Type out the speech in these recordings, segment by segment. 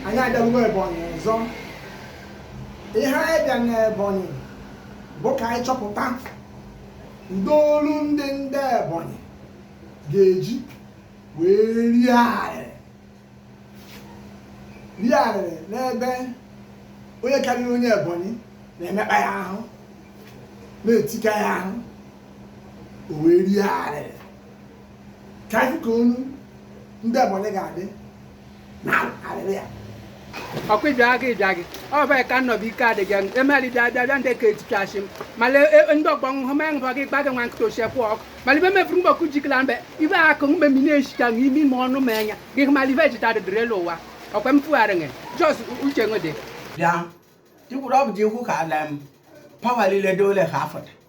anyị abịarugo Ebonyi ọzọ ihe anyị bịa na Ebonyi bụ ka anyị chọpụta ụdị olu ndị ndị Ebonyi ga-eji wee rie arịrị rie arịrị n'ebe onye karịrị onye Ebonyi na-emekpa ya ahụ na-etika ya ahụ o wee rie arịrị ka anyị ka olu ndị Ebonyi ga-adị ọkwa ịbịa gị ịbịa gị ọ bụ ka nnọbụ ike adịghị emeri bịa bịa bịa ndị ka etichasị m male ndị ọgbọ nhụ ma nhụ gị gbaghị nwa nkịta ochie kwụ ọkụ male ibe mefuru mgbọkụ jikila mbe ibe akụ mgbe mi na-echicha na ime ime ọnụ ma anya gị hụ male ibe ejita dịdịrị elu ụwa ọkwa m fugharị gị jos uche nwede bịa ikwuru ọ bụ ji ikwu ka ala m pawa niile dole ha afọta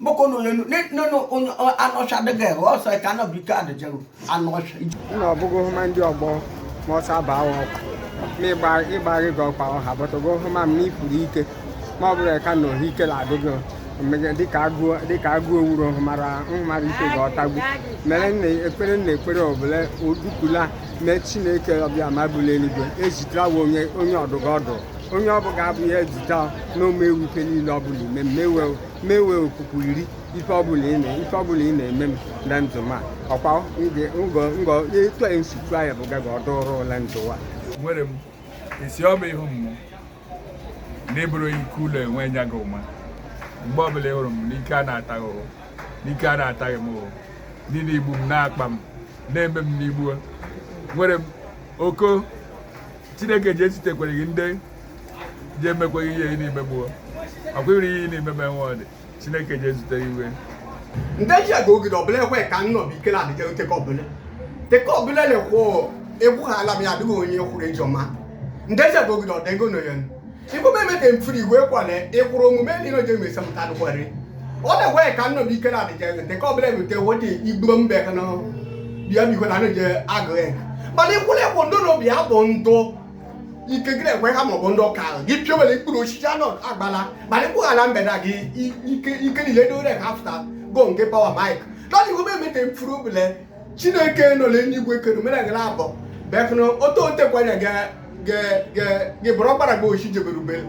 boko no yenu ne no no onyo anosha de ge o so ka no bi ka de jeru anosha na obugo huma ndi ogbo mo sa ba wo mi gba igba ri go pa o ha but ogo huma mi puru ike ma ọ bụrụ ka na ohi ike la adịgo dịka agụ dịka agụ owuru hụmara nhụmara ike ga ọtagbu mere nna ekpere nna ekpere obele odukula mee chineke ọbịa ma bụla eluigwe ezitara wa onye onye ọdụga ọdụ onye ọbụga abụghị ezita n'ome ewuke niile ọbụla ime mmewe mewe okpukpu iri ife ọbụla ị na- ife ọbụla ị na-eme m le ndụ m a ọkwa nge- ngọ ngọ etu a esi chụọ ya bụ gaga ọdụrụ ụla ndụ a nwere m esi ọma ihu m n'ịbụrụ ike ụlọ enwe enya gị hụma mgbe ọbụla ị hụrụ m n'ike a na-ataghị ụhụ n'ike a na-ataghị m ụhụ ndị na-egbu m na-akpa m na-eme m n'igbu nwere m oko chineke ji ezitekwereghị ndị ji emekweghị ihe ị na-eme gbuo akwụghịrị ihe ị na-eme ma enwe ọdị chineke ji ezute iwe ndị ji aga ogide ọbụla ekwe ka nnọ bụ ikele adịga oteke ọbụla teke ọbụla na-ekwe egbughala m ya adịghị onye kwuru ejọma ndị ji aga ogide ọdịgo nọ ya igbo meme ka mfiri igwe kwana ịkwụrụ omume ndị nọje mesa mụta dụkwari ọ na-ekwe ka nnọ bụ ike na adịja ewete ka ọbụla ewete wote igbo mbe ka na bịa biko na nọje agụ ya mana ịkwụrụ ịkwụ ndụ na obi ya bụ ndụ ike gị na-ekwe ha maọbụ ndị ụka ahụ gị piowere mkpụrụ osisi anọ agbala mana ịkwụghara mbe na gị ike niile dị ore ka afụta go nke pawa mike nọ na igbo meme ka mfiri obule chineke nọ n'eluigwe kere mere gị na-abọ bekụna ote otekwanya gị bụrụ ọkpara gị ochi jebere ubele